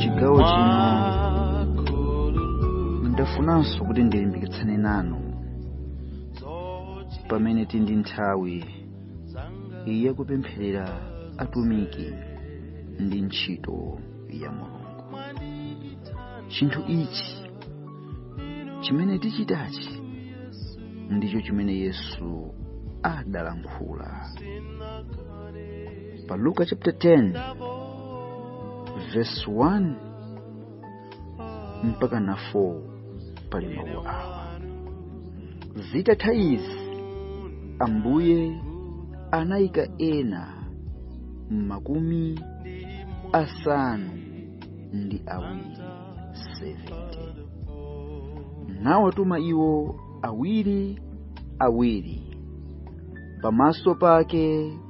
chigawo chino ndafunanso kuti ndilimbikitsane nanu pamene tili ndi nthawi yakupempherera atumiki ndi ntchito ya mulungu chinthu ichi chimene tichitachi ndicho chimene yesu adalankhula pa luka chapter 10 verse 1 mpaka na 4 pali mawu awa zitatha izi ambuye anayika ena makumi asanu ndi awiri 70 nawatuma iwo awiri awiri pamaso pake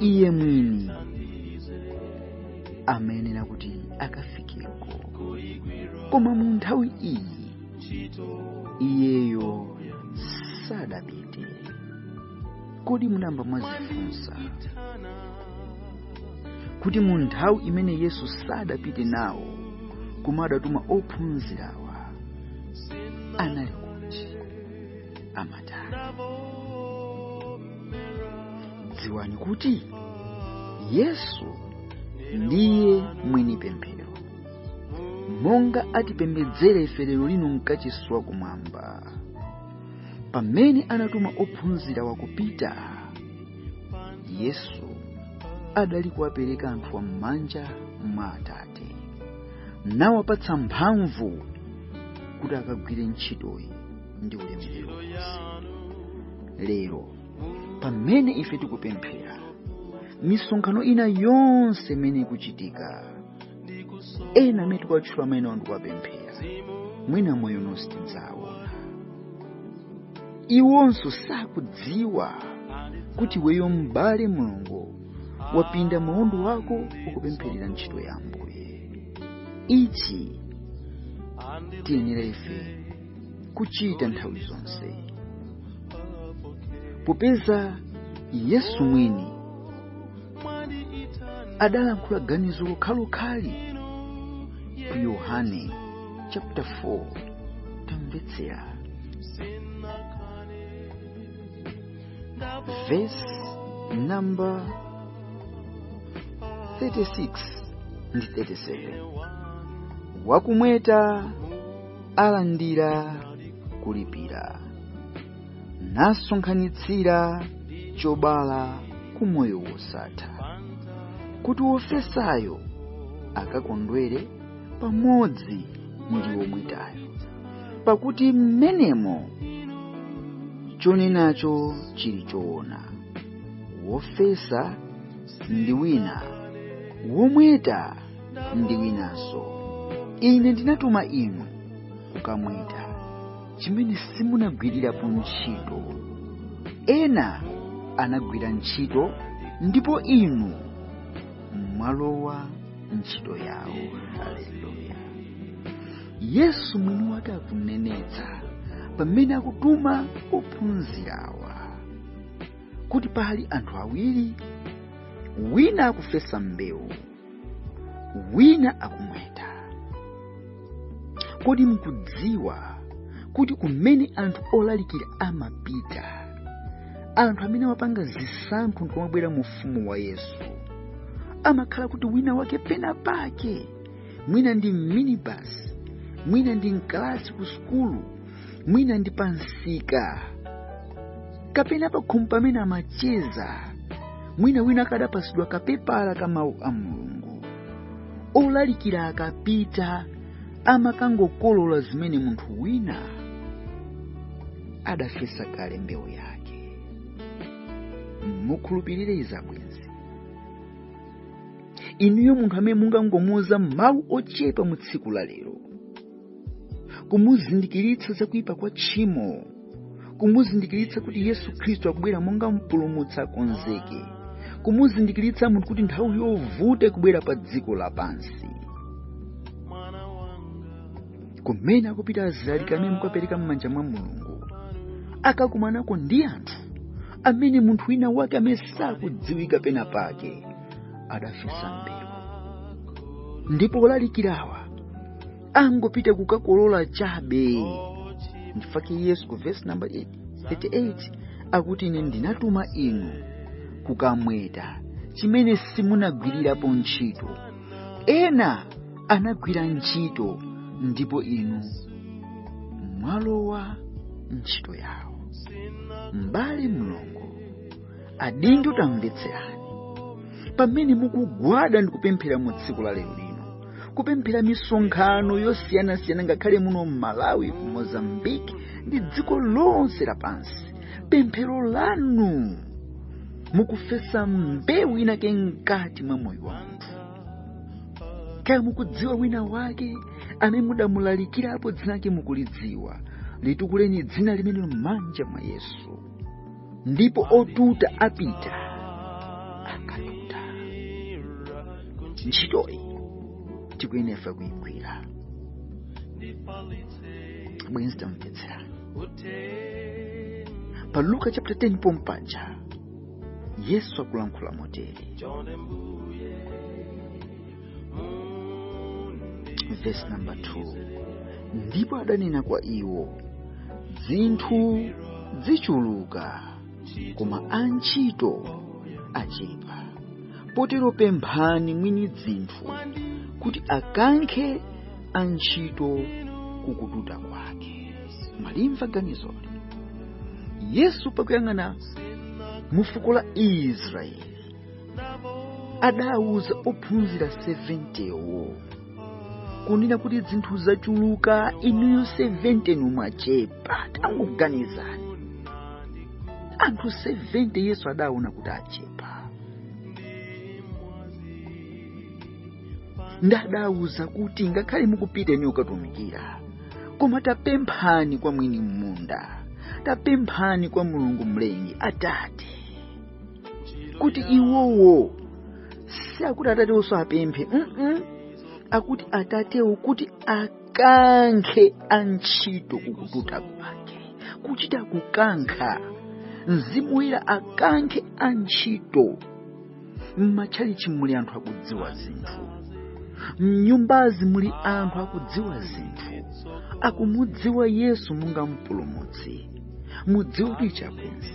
iye mwini amayenera kuti akafikeko koma mu nthawi iyi iyeyo sadapite kodi munamba mwazifunsa kuti mu nthawi imene yesu sadapite nawo koma adatuma ophunzirawa anali kuti dziwani kuti yesu ndiye mwini pemphero monga atipembedzera ife lero lino mkachisi wa kumwamba pamene anatuma ophunzirawa kupita yesu adali kuwapereka anthuwa m'manja mwa atate nawapatsa mphamvu kuti akagwire ntchitoyi ndi ulemerero lero pamene ife tikupempherera misonkhano ina yonse imene ikuchitika ena amene tikuwatchula maina ndi kuwapempherera mwina moyo uno sitidzawaona iwonso sakudziwa kuti iweyo m'bale mulungu wapinda maondo ako ukupempherera ntchito ya ambuye ichi tiyenera ife kuchita nthawi zonse popeza yesu mwini adalankhula ganizo lokhalokhalo ku yohane chapter 4 tamvetsera verse number 36 ndi 37 wakumweta alandira kulipira nasonkhanitsira chobala ku moyo wosatha kuti wofesayo akakondwere pamodzi ndi womwetayo pakuti mmenemo chonenacho chili choona wofesa ndi wina womweta ndi winanso ine ndinatuma inu kukamweta chimene simunagwirirapo ntchito ena anagwira ntchito ndipo inu mwalowa ntchito yawo haleluya yesu mwini wake akunenetsa pamene akutuma ophunzirawa kuti pali anthu awiri wina akufesa mbewu wina akumweta kodi mukudziwa kuti kumene anthu olalikira amapita anthu amene amapanga zisankho nkumabwera mu ufumu wa yesu amakhala kuti wina wake pena pake mwina ndi m'minibus mwina ndi mkalasi ku sukulu mwina ndi pa msika kapena pakhomo pamene amacheza mwina wina akadapasidwa kapepala ka mawu a mulungu olalikira akapita amakangokolola zimene munthu wina adafesa kale mbewu yake mukhulupirire izi abwenzi inuyo munthu amene mungangomuuza mawu ochepa mu tsiku la lero kumuzindikiritsa za kuyipa kwa tchimo kumuzindikiritsa kuti yesu khristu akubwera monga mpulumutsi akonzeke kumuzindikiritsa munthu kuti nthawi yovuta ikubwera pa dziko lapansi kumene akupita azilaliki amene mukapereka m'manja mwa mulungu akakumanako ndi anthu amene munthu wina wake amene sakudziwika pena pake adafesa mbewu ndipo olalikirawa angopita kukakolola chabe ndifake yesu ku vesi namba 38 akuti ine ndinatuma inu kukamweta chimene simunagwirirapo ntchito ena anagwira ntchito ndipo inu mwalowa ntchito yawo m'bale mlongo adindo tamvetserani pamene mukugwada ndi kupemphera mu tsiku la lero lino kupemphera misonkhano yosiyanasiyana ngakhale muno m'malawi ku mozambiki ndi dziko lonse lapansi pemphero lanu mukufesa mbewu inake mkati mwa moyo wa munthu kaya mukudziwa wina wake amene mudamulalikirapo dzina lake mukulidziwa litukuleni dzina limenelo m'manja mwa yesu ndipo otuta apita akatuta ntchitoyi tikuyenera kuyigwira abwenzi tamvetserani pa luka chapter 10 pompaja yesu akulankhula motere vesi namba 2 ndipo adanena kwa iwo dzinthu dzichuluka koma antchito achepa potero pemphani mwini dzinthu kuti akankhe antchito kukututa kwake mwalimva ganizoli yesu pakuyang'ana mufuko la israeli adawuza ophunzira 70wo kunena kuti dzinthu zachuluka inuyo 70 ndinu mwachepa tangoganizani anthu 70 yesu adaona kuti achepa ndadawuza kuti ngakhale mukupita inu kukatumikira koma tapemphani kwa mwini munda tapemphani kwa mulungu mlengi atate kuti iwowo si akuti atatewonso apemphe mm akuti atatewo kuti akankhe antchito kukututa kwake kuchita kukankha mzimu woyera akankhe antchito m'matchalichi muli anthu akudziwa zinthu mnyumbazi muli anthu akudziwa zinthu akumudziwa yesu monga mpulumutsi mudziwe kuti ichapenzi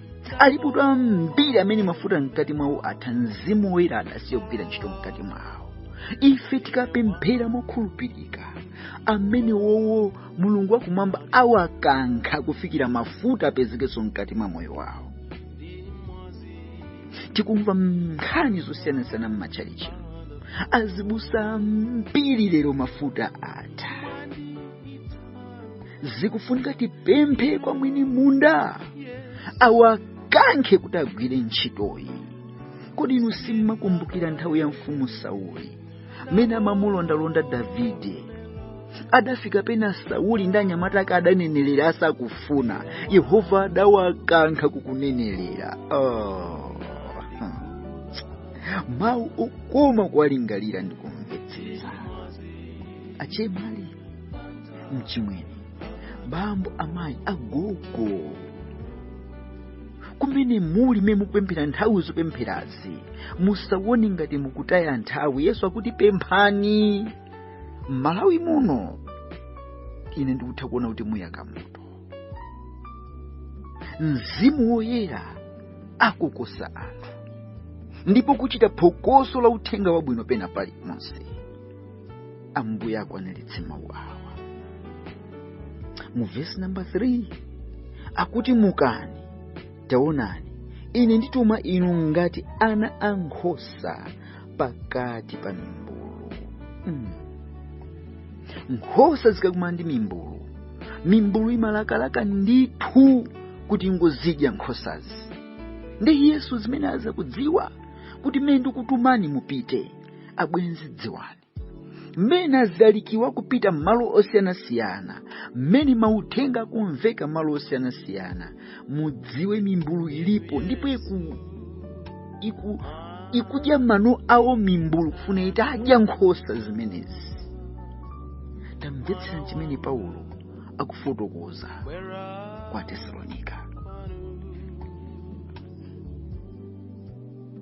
alipo anthu ambiri amene mafuta mkati mwawo atha mzimu woyera adasiya kugwira ntchito mkati mwawo ife tikapemphera mokhulupirika amene wowo mulungu wakumwamba awakankha kufikira mafuta apezekenso mkati mwa moyo wawo tikumva nkhani zosiyanasiyana m'matchalichi azibusa ambiri lero mafuta atha zikufunika tipemphe kwa mwini munda awakankhe kuti agwire ntchitoyi kodi inu simmakumbukira nthawi ya mfumu sauli mmene amamulondalonda davide adafika pena sauli ndi anyamata ake adanenelera asakufuna yehova adawakankha kukunenelera oh. mawu okoma kuwalingalira ndi kumvetsetsa achemali mchimwene bambo amayi agogo kumene muli mmene mukupemphera nthawi zopempherazi musawone ngati mukutaya nthawi yesu akuti pemphani m'malawi muno ine ndikutha kuona kuti muyaka moto mzimu woyera akukoka anthu ndipo kuchita phokoso la uthenga wabwino pena paliponse ambuye akwaniritse mawu awa mu vesi namba 3 akuti mukani taonani ine ndituma inu ngati ana a nkhosa pakati pa mimbulu mm. nkhosa zikakumana ndi mimbulu mimbulu imalakalaka ndithu kuti ingozidya nkhosazi ndiye yesu zimene akudziwa kuti mmene ndikutumani mupite abwenzi dziwani mmene azilalikira kupita m'malo osiyanasiyana mmene mauthenga akumveka malo osiyanasiyana mudziwe mimbulu ilipo ndipo iku, iku, ikudya mano awo mimbulu kufuna itadya nkhosa zimenezi tamvetserani chimene paulo akufotokoza kwa tesalonika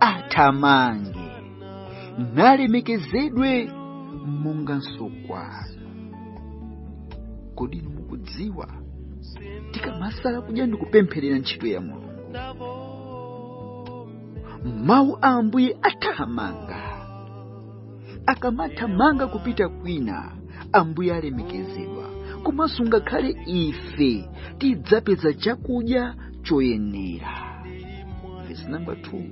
athamange nalemekezedwe monganso kwanu kodi inu mukudziwa tikamasala kudya ndi kupempherera ntchito ya mulungu mawu a ambuye athamanga akamathamanga kupita kwina ambuye alemekezedwa komanso ngakhale ife tidzapeza chakudya choyenera verse number 2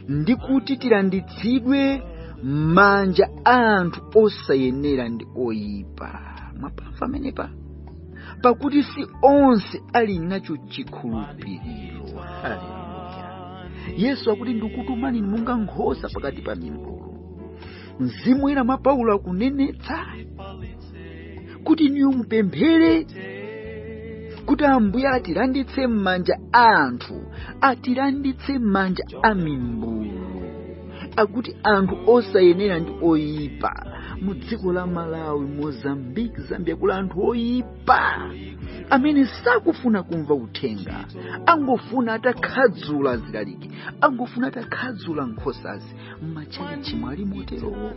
ndi kuti tilanditsidwe m'manja a anthu osayenera ndi oyipa mwapamva amenewa pakuti si onse ali nacho chikhulupiriro haleluya yesu akuti ndikutumani inu monga nkhosa pakati pa mimbulu mzimu woyera mwa paulo akunenetsa kuti inuyo mupemphere kuti ambuye atilanditse m'manja a anthu atilanditse m'manja a mimbulu akuti anthu osayenera ndi oyipa mu dziko la malawi mozambique zambia kuli anthu oyipa amene sakufuna kumva uthenga angofuna atakhadzula azilaliki angofuna atakhadzula nkhosazi m'matchalitchi mwali moterowo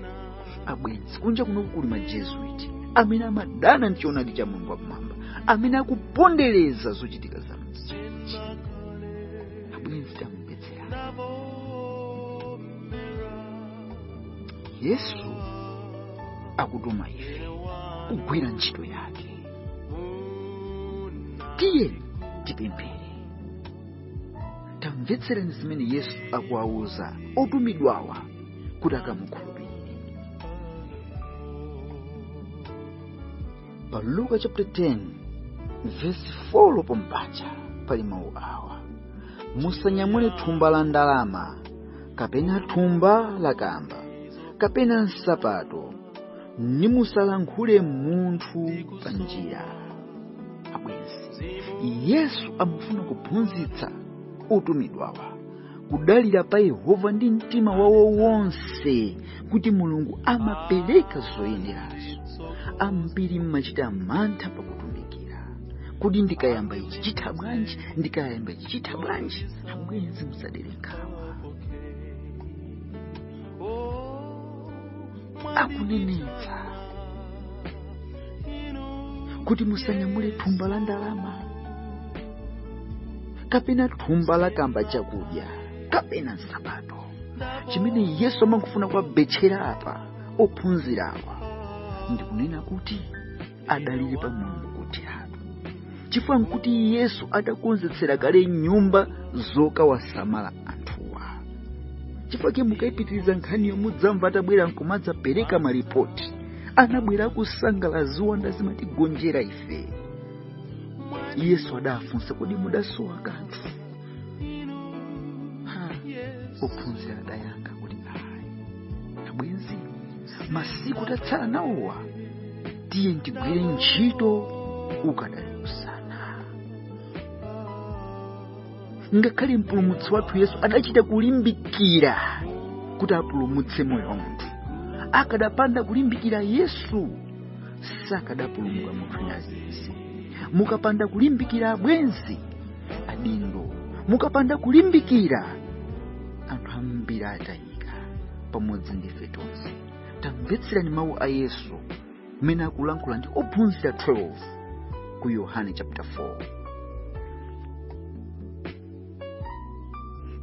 abwenzi kunja kunoku kuli majesuit amene amadana ndi choonadi cha mulungu wakumwamba amene akupondereza zochitika za m'tchalitchi abwenzi tamu yesu akutuma ife kugwira ntchito yake tiyeni tipemphere tamvetsereni zimene yesu akuwawuza otumidwawa kuti akamukhulupirire pa luka chapter 10 vesi 4 pompaja pali mawu awa musanyamule thumba la ndalama kapena thumba la kamba kapena nsapato ndi musalankhule munthu pa njira abwenzi yesu amafuna kuphunzitsa otumidwawa kudalira pa yehova ndi mtima wawo wonse kuti mulungu amapereka zoyenerazo ambiri mumachita mantha pakutumikira kuti ndikayamba ichi chitha bwanji ndikayamba ichi chitha bwanji abwenzi musadere nkhawa akunenetsa kuti musanyamule thumba la ndalama kapena thumba la kamba chakudya kapena nsapato chimene yesu amangofuna kuwabetchera apa ophunzirawa ndikunena kuti adalire pa mulungu kotheratu chifukwa nkuti yesu adakonzetsera kale nyumba zokawasamala anthuwa chifukwa chake mukayipitiriza nkhaniyo mudzamva atabwera nkumadzapereka malipoti anabwera akusangala ziwanda zimatigonjera ife yesu adafunsa kodi mudasowa kanthu ha ophunzira adayankha kuti ayi abwenzi masiku atsala nawowa tiye tigwire ntchito ukadali usana ngakhale mpulumutsi wathu yesu adachita kulimbikira kuti apulumutse moyo wa munthu akadapanda kulimbikira yesu sakadapulumuka munthu nazizi mukapanda kulimbikira abwenzi adindo mukapanda kulimbikira anthu ambiri atayi pamodzi ndi ife tonse tamvetserani mawu a yesu mmene akulankhula ndi ophunzira 12 ku yohane chapter 4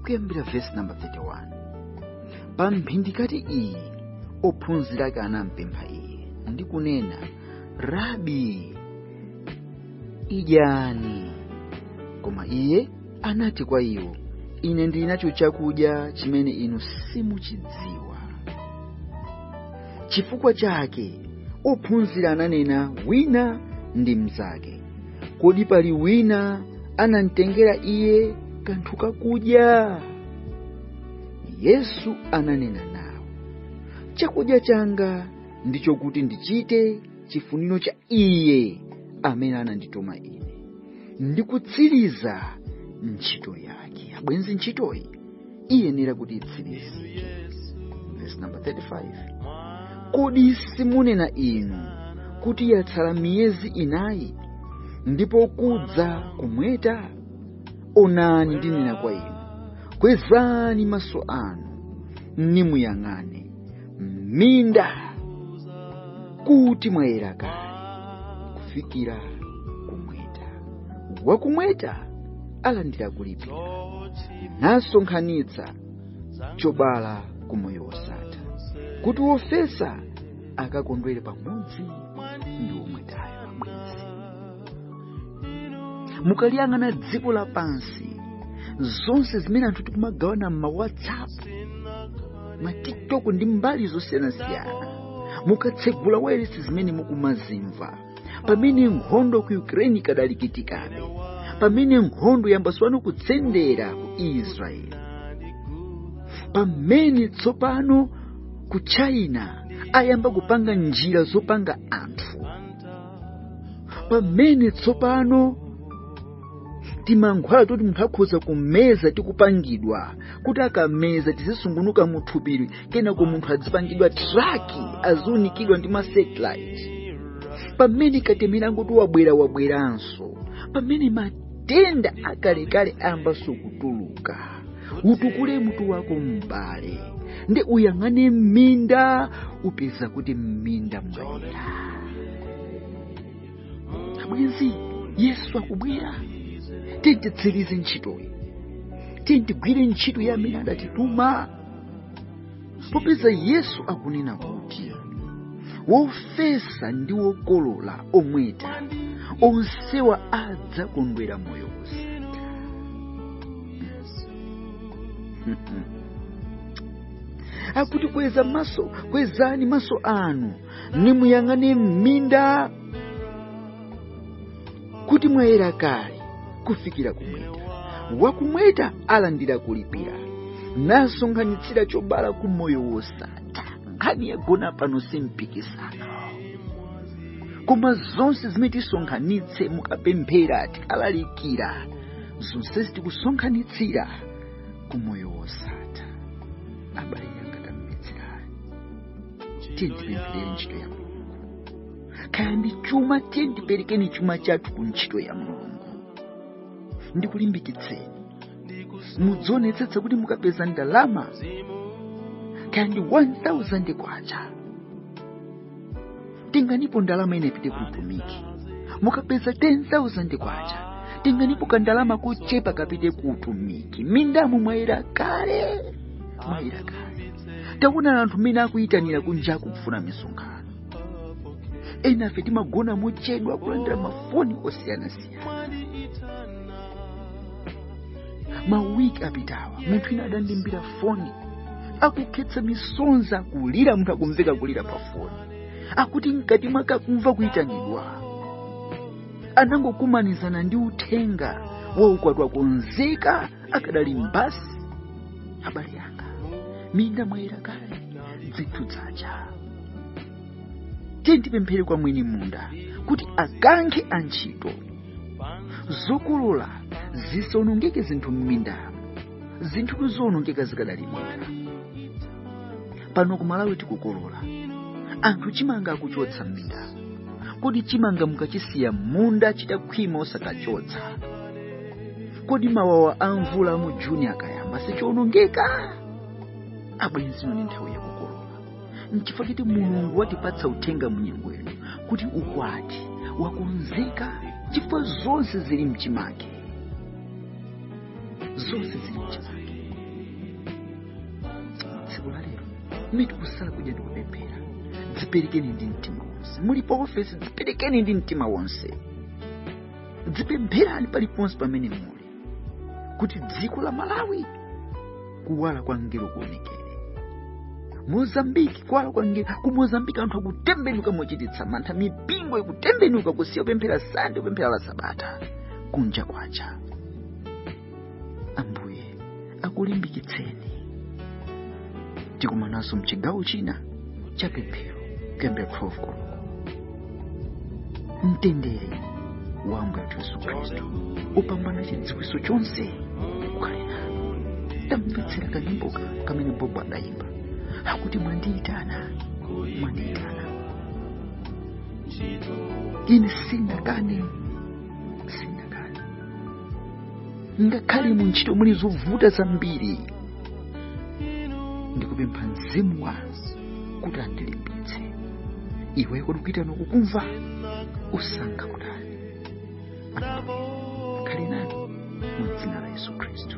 kuyambira vesi namba 31 pa mphindikati iyi ophunzira ake anampempha iye ndi kunena rabi idyani koma iye anati kwa iwo ine ndili nacho chakudya chimene inu simuchidziwa chifukwa chake ophunzira ananena wina ndi mnzake kodi pali wina anamtengera iye kanthu kakudya yesu ananena nawo chakudya changa ndicho kuti ndichite chifuniro cha iye amene anandituma ine ndi kutsiriza ntchito yake abwenzi ntchitoyi iyenera kuti itsirizike verse number 35 kodi simunena inu kuti yatsala miyezi inayi ndipo kudza kumweta onani ndinena kwa inu kwezani maso anu nimuyang'ane m'minda kuti mwayera kale kufikira kumweta wakumweta alandira kulipira nasonkhanitsa chobala ku moyo wosatha kuti wofesa akakondwere pamodzi ndi womwetayo mukaliyang'ana dziko lapansi zonse zimene anthu tikumagawana m'ma whatsapp ma tiktok ndi mbali zosiyanasiyana mukatsegula wailesi zimene mukumazimva pamene nkhondo ku ukraine ikadalikitikane pamene nkhondo yayambanso pano kutsendera ku israeli pamene tsopano ku china ayamba kupanga njira zopanga anthu pamene tsopano timankhwala toti munthu akhoza kumeza tikupangidwa kuti akameza tizisungunuka m'thupili kenako munthu adzipangidwa traki aziunikidwa ndi masatellite pamene katemera ngoti wabwera wabweranso pamene matenda akalekale ayambanso kutuluka utukule mutu wako m'bale nde uyang'ane m'minda upeza kuti m'minda mwayera abwenzi yesu akubwera titsirize ntchitoyi tigwire ntchito ya amene adatituma popeza yesu akunena kuti wofesa ndi wokolola omweta onsewa adzakondwera moyo wosatha akuti kweza maso kwezani maso anu nimuyang'ane m'minda kuti mwayera kale kufikira kumweta wakumweta alandira kulipira nasonkhanitsira chobala ku moyo wosatha nkhani yagona pano simpikisano koma zonse zimene tisonkhanitse mukapemphera tikalalikira zonsezi tikusonkhanitsira ku moyo wosatha abale anga tamvetserani tiyeni tipempherere ntchito ya mulungu kaya ndi chuma tiyeni tiperekeni chuma chathu ku ntchito ya mulungu ndikulimbikitseni mudzionetsetsa kuti mukapeza ndalama kaya ndi 1000 kwacha tenganipo ndalama ina ipite ku utumiki mukapeza 10000 kwacha tenganipo kandalama kochepa kapite ku utumiki mindamo mwayera kale mwayera kale taonani anthu mmene akuyitanira kunja akufuna misonkhano enafe timagona mochedwa kulandira mafoni osiyanasiyana mawiki apitawa munthu ina adandimbira foni akukhetsa misonzi akulira munthu akumveka kulira pa foni akuti mkati mwake akumva kuyitanidwa anangokumanizana ndi uthenga wa ukwati wakonzeka akadali mbasi abale anga m'minda mwayera kale dzinthu dzacha tiyeni tipemphere kwa mwini munda kuti akankhe antchito zokolola zisawonongeke zinthu m'mindamo zinthu zikuwonongeka zikadali m'minda pano ku malawi tikukolola anthu chimanga akuchotsa m'mindamo kodi chimanga mukachisiya m'munda chitakhwima osakachotsa kodi mawawa a mvula a mu juni akayamba sichionongeka abwenzi ino ndi nthawi yakukolola nchifukwa chake mulungu watipatsa uthenga munyengo ino kuti ukwati wakonzeka chifukwa zonse zili mchimake zonse zili mchimake tsiku la lero ndi tikusala kudya ndi kupemphera dziperekeni ndi mtima wonse muli pa ofesi dziperekeni ndi mtima wonse dzipempherani paliponse pamene muli kuti dziko la malawi kuwala kwa ngelo kuonekere mozambiki kuwala kwa ngelo ku mozambiki anthu akutembenuka mochititsa mantha mipingo ikutembenuka kusiya kupemphera sande kupemphera la sabata kunja kwacha ambuye akulimbikitseni tikumananso mchigawo china cha pemphero kuyambira 12 koloko mtendere wa ambuye wathu yesu khristu upambana chidziwitso chonse ukhale nanu tamvetsera kanyimboka kamene bobo adayimba akuti mwandiyitana mwandiyitana ine sindingakane ngakhale mu ntchito muli zovuta zambiri ndikupempha mzimu wanu kuti andilimbitse iweyo kodi kuitana ukukumva usankha kutani akhale nanu mu dzina la yesu khristu